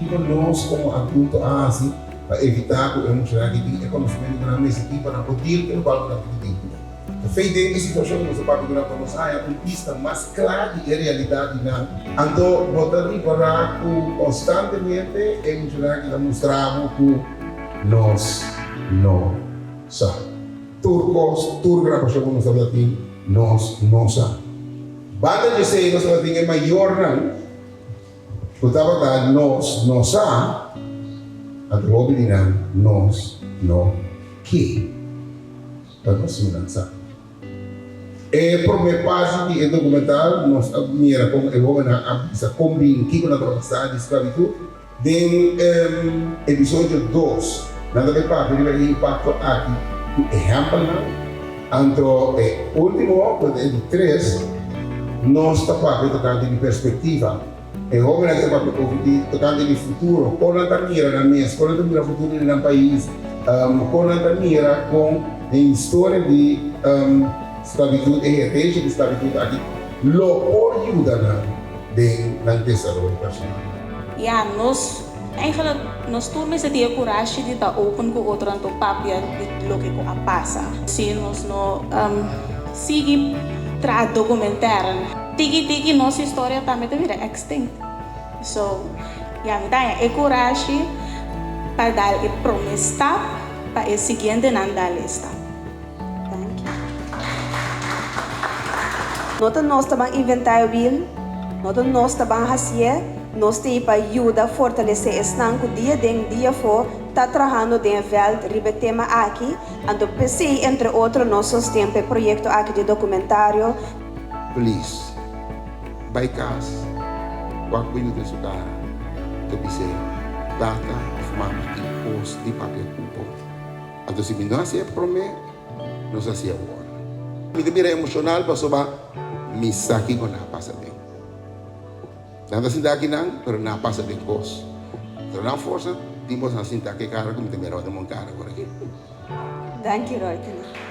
Kiko nos komo adulto a hasi pa evitá ku e mushanan ke tin e konosementu ku nan mester tin pa nan por dil ku e balbo nan tin di dentro nan? Tafei den e situashon ku nos ta papia durante nos haña un bista mas kla di e realidat di nan. Anto bo ta ripará ku konstantemente e mushanan aki ta mustra bo ku nos no sa tur kos. Tur grabashon ku nos tabata tin nos no sa. Banda dje esei nos tabata tin e mayornan. Ku tabata nos no sa, a ta hopi di nan nos no ke pa nos siña nan sa. E promé parti di e dokumental nos a mira komo e hóbennan a bisa kon bini kiko nan tabata sa di sklabitut. Den e episodio dos, nan ta bai papia riba e impakto aki ku ehèmpelnan. Anto e ultimo hopi den di tres, nos ta papia tocante di perspectiva. E hobennan ta papia over di tocante di futuro, con nan ta mira nan mes, con nan ta mira futuro di nan pais, con nan ta mira con e historia di sclavitud, e herdecia di sclavitud aki lo por yuda nan den nan desaroyo personal. Ya, nos Eigenlijk, nos tur mester tin e kurashi di ta open ku otronan tur papia di loke ku a pasa. Si nos no sigui traha dokumentar, tiki tiki nos historia tambe ta bira extinct. So, ya mi ta haña e kurashi pa dal e prome stap pa e siguientenan dal e stap. No ta nos ta ban inventá e wiel, no ta nos ta ban hasié, nos ta ei pa yuda fortalesé esnan ku dia den, dia afó ta trahando den e vèlt riba e tema aki, anto p'esei entre otro nos sosten pa e proyekto aki di e dokumentario. Please, bai kas, wak bini den su kara, ta bis'é, Tata òf Mama, i pos di papia ku bo. Anto si mi no hasi e prome, nos hasi awor. Mi ta bira emoshonal pasoba mi sa ki ku na pasa ben. Nan ta sinta akinan, pero na pasa den kos. Tra nan forsa tin bos nan sinta ke kara ku mi ta mira ora mon kara por aki. Danki Roytene.